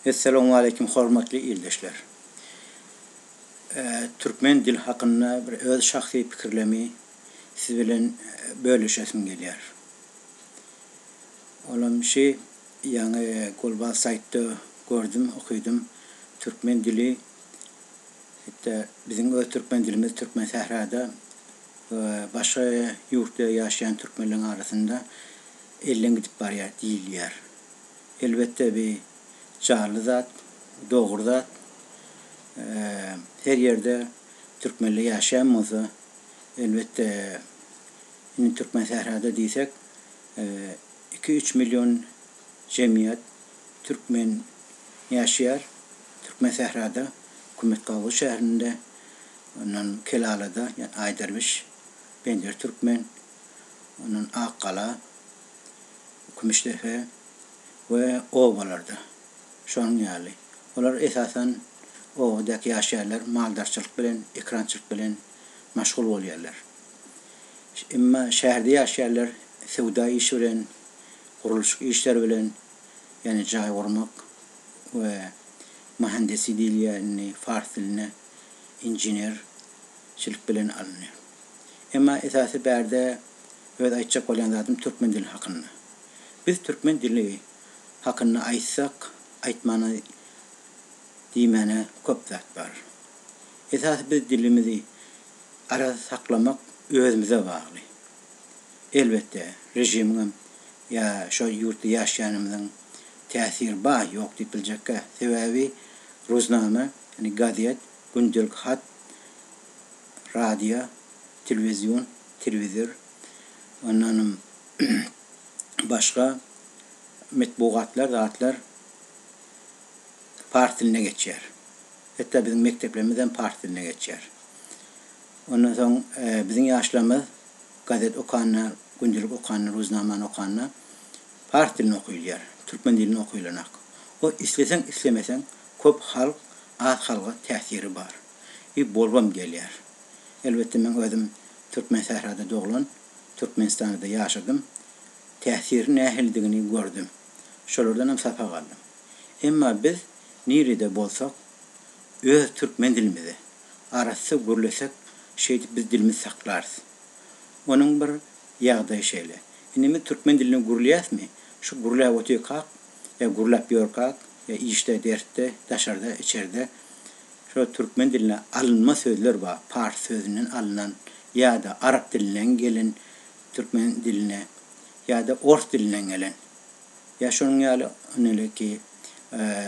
Essalamualeýkum hormatly ildeşler. Türkmen dil hakynda bir öz şahsy pikirlemi siz bilen bölüşesim gelýär. Olam şi ýaňy golbaz saýtda gördüm okydym türkmen dili etde biziň öz türkmen dilimiz türkmen sährada we başga ýurtda ýaşaýan türkmenleriň arasynda elden gidip barýar diýilýär. Elbetde bi janly zat, dogry zat. Her ýerde türkmenler ýaşaýan bolsa, elbetde indi Türkmensährada diýsek, iki-üç million jemgyýet türkmen ýaşaýar. Türkmensährada, Hükümetgabugy şäherinde, ondan Kelalada, ýa Aýderwiş, Pendir Türkmen, ondan Akgala. Kümüşdepe we obalarda şonuň ýaly. Olar esasan obadaky ýaşaýanlar maldarçylyk bilen, ekrançylyk bilen maşgul bolýarlar. Emma şäherde ýaşaýanlar söwda işi bilen, gurluşyk işleri bilen, ýagny jaý gurmak we mahandesi diýilýär indi fars dilinde, inženerçilik bilen alynýar. Emma esasy bärde Öz aýtjak bolýan zadym türkmen dili hakynda. Biz türkmen dili hakynda aýtsak, aýtmana diýmäne köp zat bar. Esasy biz dilimizi arassa saklamak özümize bagly. Elbetde, režimiňem ýa şo ýurtda ýaşaýanymyzyň täsiri bar, ýok diýip biljekkä. Sebäbi Ruznama, ýagny gazet, gündelik hat, radio, telewizion, telewizor, ondanam başga metbugatlar, zatlar pars diline geçýär. Hetde biziň mekdeplerimiz hem pars diline geçýär. Ondan soň biziň ýaşlarymyz gazet okanda, gündelik okanda, ruznamany okanda pars dilini okylýar, türkmen dilini okylanak. O isleseň islemeseň köp halk az halga täsiri bar. we bolgam gelýär. Elbetde meň özüm Türkmensährada doglan, Türkmenistanda-da ýaşadym. Täsiri nähilidigini gördüm. Şolardanam sapak aldym. Emma biz nirede bolsak, öz türkmen dilimizi arassa gürlesek, şeýdip biz dilimizi saklarys. Onuň bir ýagdaýy şeýle. Indi biz türkmen dilini gürleýäsmi, şu gürläp otyrkak, ýa gürläp ýörkak, ýa işde, dersde, daşarda, içerde, Şo türkmen diline alynma sözler bar, pars sözünden alynan ýa-da arap dilinden gelen türkmen diline ýa-da ors dilinden gelen. Ýa şonuň ýaly, noleki,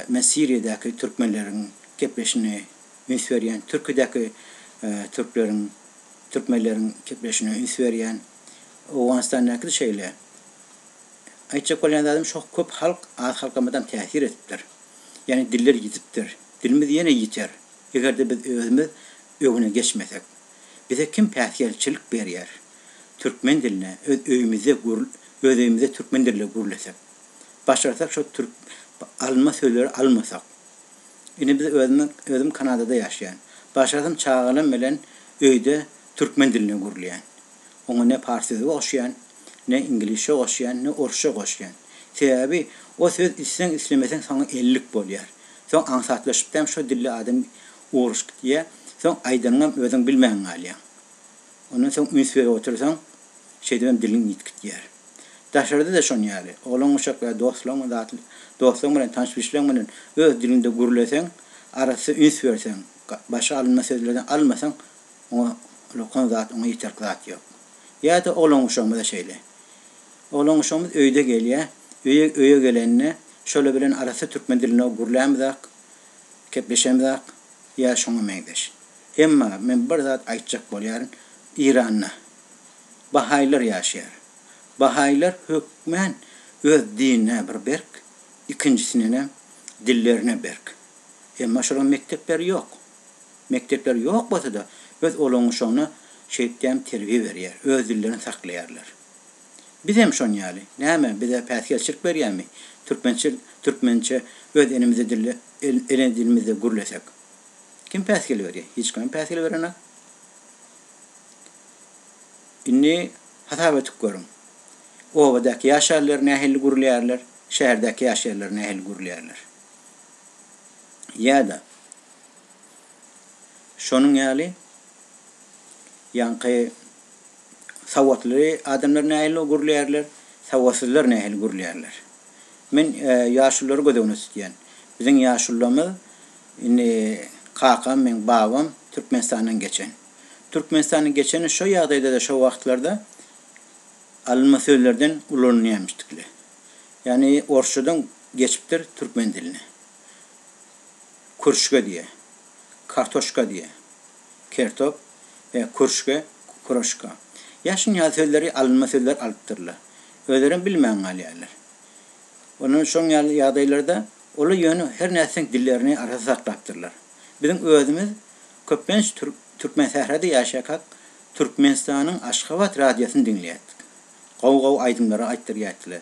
men Siriýadäki türkmenleriň gepleşine üns berýän, Türkidäki türkleriň, türkmenleriň gepleşine üns berýän. Owganystandaky-da şeýle. Aýtjak bolýan zadym şo köp halk az halkamyzam täsir edipdir. Ýagny diller ýitipdir. Dilimiz ýene ýiter. Eger-de biz özümiz öňüne geçmesek. Bize kim päsgelçilik berýär? Türkmen diline öz öýümizde gür öz öýümizde türkmen dilde gürlesek. Başarsak şo türk alma sözleri almasak. Indi biz özüm özüm Kanadada ýaşaýan. Başarsam çagalarym bilen öýde türkmen dilinde gürleýän. Oňa ne pars sözi goşýan, ne iňlisçe goşýan, ne orsça goşýan. Sebäbi o söz isleň-islemeseň saňa ellik bolýar. Soň aňsatlaşypdam şo dilli adam urus gitýär, soň aýdanyňam özüň bilmän galýaň. Ondan soň üns berip otursaň, şeýdibem diliň ýitgitýär. Daşarda-da şon ýaly. Oglan-uşaklar, dostlaryň zat dostlaryň bilen, tanyş-bilşleriň bilen öz diliňde gürleseň, arassa üns berseň, başga alynma sözlerden almasaň, Oňa ulakan zat, oňa ýeterlik zat ýok. Ýa-da oglan-guşagymyz-a şeýle. Oglan-guşagymyz öýde gelýär, öýe öýe gelende şolar bilen arassa türkmen dilinde gürlämizak, gepleşemizak ýa şoňa meňzeş. Emma men bir zat aýtjak bolýaryn, Iranda bahaýlar ýaşaýar. Bahaýlar hökmän öz dinine bir berk, ikinjisinenem dillerine berk. Emma şolaryň mekdepleri ýok. Mekdepler ýok bolsa-da, öz olaňaşygna şeýtdem terbiýe berýär, öz dillerini saklaýarlar. Bizem şon ýaly. Näme, bize päsgelçilik berýärmi? Türkmençe, türkmençe öz enemize dilde, ene dilimizde gürlesek. Kim päsgel berýär? Hiç kim päsgel berenok. Indi hasap edip görüň. Obadaky ýaşarlar nähili gürleýärler, şäherdäki ýaşaýarlar nähili gürleýärler. Ýa-da. Şonuň ýaly, ýaňky sawatly adamlar nähili gürleýärler, sawatsyzlar nähili gürleýärler. Men ýaşululary göz öňüne tutýan. Biziň ýaşulularymyz, indi kakam, meň babam Türkmenistandan geçen. Türkmenistandan geçeni şo ýagdaýda-da, şo wagtlarda alynma sözlerden ulanylýamyşdykly. Ýagny orsçadan geçipdir türkmen diline. Kürşge diýe. Kartoşka diýe. Kertop, e, kürşge, kuroşka. Ýaşyn ýaly sözleri alynma sözler alypdyrlar. Özlerem bilmän galýarlar. Ondan şoň ýaly ýagdaýlarda olar ýöne her nätseň dillerini arassa saklapdyrlar. Biziň özümiz köplenç Türkmensährada ýaşaýkak Türkmenistanyň Aşgabat radiosyny diňleýärdik. Gowy-gowy aýdymlary aýtdyrýardylar.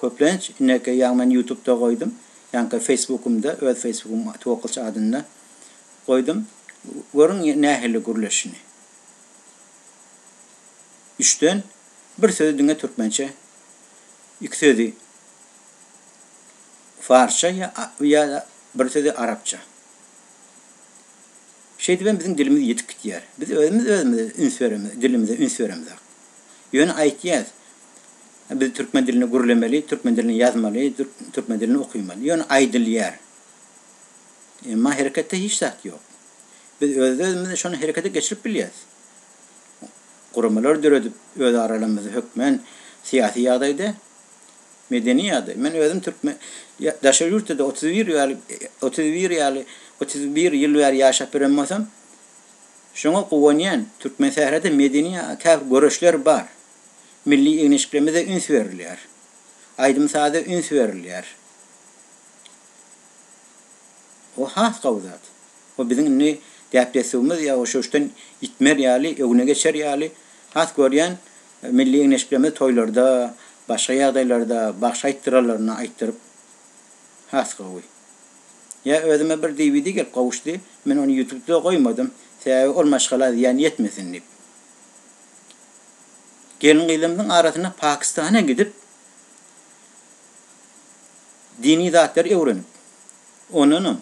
Köplenç inekey ýaňy men ýutubda goýdum ýaňky feýsbukymda öz feýsbukym twokylç adynda goýdum görüň nähili gürleşini üçden bir sözi diňe türkmençe iki sözi farsça ýa ýada bir sözi arapça şeýdip hem biziň dilimiz ýitip gitýär biz özümiz özümize üns beremiz dilimize üns beremizok ýöne aýtýas Biz türkmen dilinde gürlemeli, türkmen dilinde ýazmaly, türkmen dilinde okymaly. Ýöne aýdylýar. Emma hereketde hiç zat ýok. Biz öz-özümizi şony herekete geçirip bilýäs. Guramalar döredip, öz aralarymyzda hökmän syýasy ýagdaýda, medeni ýagdaý. Men özüm türkmen daşary ýurtda-da otuz bir ýaly, otuz bir ýaly, otuz bir ýyl bäri ýaşap ýören bolsam, şoňa guwanýan. Türkmensährada medeni käbir göreşler bar. Milli egnişiklimize üns berilýär. Aýdym-saza üns berilýär. O has gowy zat. O biziň indi däp-dessuwymyz ýa uşuşdan ýitmer ýaly, öňe geçer ýaly. Has görýän, milli egnisiklerimizi toýlarda, başga ýagdaýlarda, bagşy aýtdyranlarynda aýtdyryp has gowy. Ýa özüme bir DVD gelip gowuşdy, men ony ýutubda goýmadym, sebäbi ol maşgala zyýan ýetmesin diýip. Gelin-gyzlarymyzyň arasyna Pakistana gidip, dini zatlary öwrenip, ondanam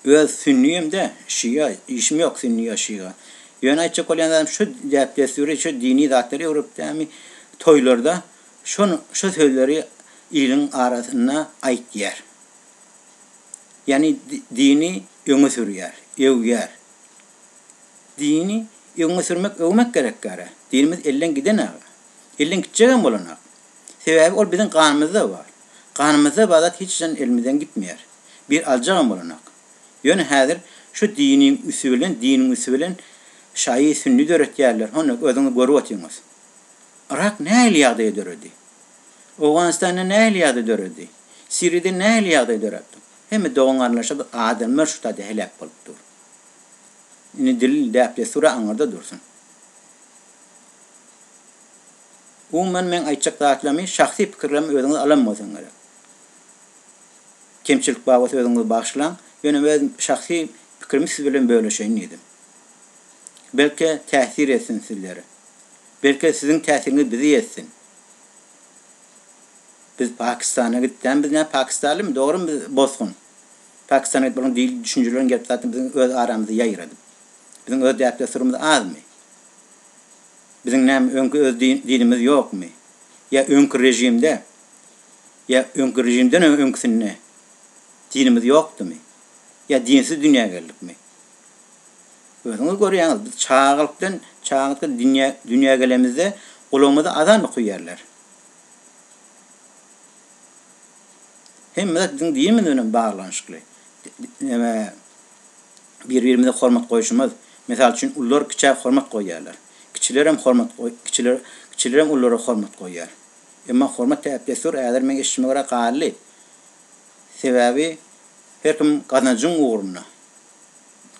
öz sünni hem-de şia, işim ýok sünni ýa şia. Ýöne aýtjak bolýan zadym şu däp-dessuri, şu dini zatlary öwrenipdämi, toýlarda şony, şu sözleri iliň arasynda aýtýar. Ýagny dini öňe sürýär, öwýär. Dini öňe sürmek öwmek gerek gara. Dinimiz elden giden aga. Elden gitjegem bolanok. Sebäbi ol biziň ganymyzda bar. Ganymyzda bar zat hiç haçan elimizden gitmeýär. Bir aljagam bolanok. Ýöne häzir şu diniň üsti bilen diniň üsti bilen şaýy sünni döretýärler. Hony özüňiz görüp otyňyz. Yrak nähili ýagdaýa döredi? Owganystanda nähili ýagdaý döredi? Siriýada nähili ýagdaý döräp dur? Hemme dogan-garyndaşa adamlar şu taýda heläk bolup dur. Indi dil, däp-dessur-a aňyrda dursun. Umuman meň aýtjak zatlarymy şahsy pikirlerimi özüňiz alan bolsaň gerek. Kemçilik bar bolsa özüňizi bagyşlaň, ýöne öz şahsy pikirimi siz bilen bölüşeýin diýdim. Belki täsir etsin sizlere. Belki siziň täsiriňiz bizi etsin. Biz Pakistana gitdäm biz nä Pakistanlymy dogrymy biz bosgun. Pakistan aýdyp bolan dil düşünjeleriň gelip zatyn biziň öz aramyzda ýaýradyp. Biziň öz däp dessurymyz azmy? Biziň näme öňki öz din dinimiz ýokmy? Ýa öňki režimde ýa öňki režimden öňkisinde dinimiz ýokdymy? Ýa dinsiz dünýä geldikmi? Özüňiz görýäňiz biz çagalykdan çagalykdan dünýä dünýä gelemizde gulagymyza azan okyýarlar. Hemme zat biziň dinimiz bilen baglanyşykly. Neme, bir-birimize hormat goýşumyz. Mysal üçin, ullar kiçä hormat goýýarlar. Kiçilerem hormat kiçiler kiçilerem ullara hormat goýýar. Emma hormat däp-dessur häzir meň eşidişime görä galdy. Sebäbi her kim gazanjyň ugrunda.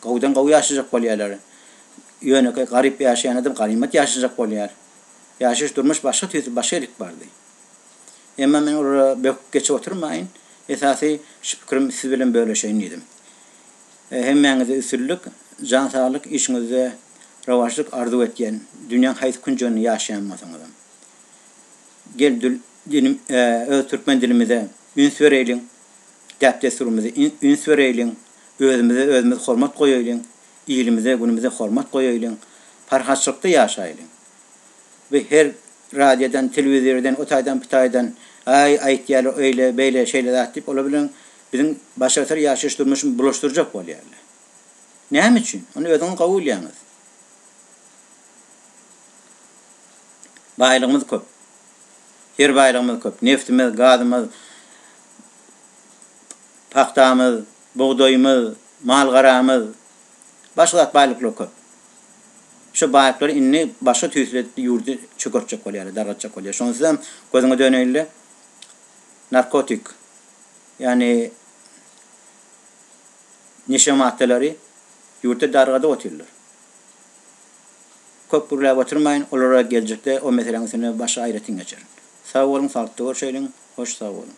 Gowudan gowy ýaşajak bolýarlar. Ýönekeý garyp ýaşaýan adam galymat ýaşajak bolýar. Ýaşaýyş durmuş başga tüýs başga ilk bardy. Emma men olara böküp geçip oturmaýyn, esasy şu pikirim siz bilen bölüşeýin diýdim. Hemmäňize üstünlik, jan saglyk, işiňizde rowaçlyk arzuw etýän, dünýäň haýsy künjeginde ýaşaýan bolsaňyzam. Gel dül dilim öz türkmen dilimize üns bereýliň, däp-dessurymyzy üns bereýliň, özümize özümiz hormat goýaýlyň, ilimize, günümize hormat goýaýlyň, parahatçylykda ýaşaýlyň. bu her radiodan, telewizordan, o taýdan, bu taýdan, aý, aýtýarlar öýle, beýle, şeýle zat diýip, olar bilen biziň başartyr ýaşaýyş durmuşymyzy bulaşdyrjak bolýarlar. Näme üçin? Ony özüňiz gowy bilýäňiz. Baýlygymyz köp. Her baýlygymyz köp. Neftimiz, gazymyz, pagtamyz, bugdaýymyz, mal-garamyz, Başga zat baýlyklar köp. Şo baýlyklary indi başga tüýsli ýurdy çökertjek bolýarlar, dargatjak bolýar. Şonsuz hem gözüňe döneýin-le, narkotik, ýagny neşe maddalary ýurtda dargadyp otyrlar. Köp gürläp oturmaýyn, olara geljekde o meseläň üstünde başga aýratyn geçerin. Sag boluň, saglyklda görşeýliň. Hoş, sag boluň.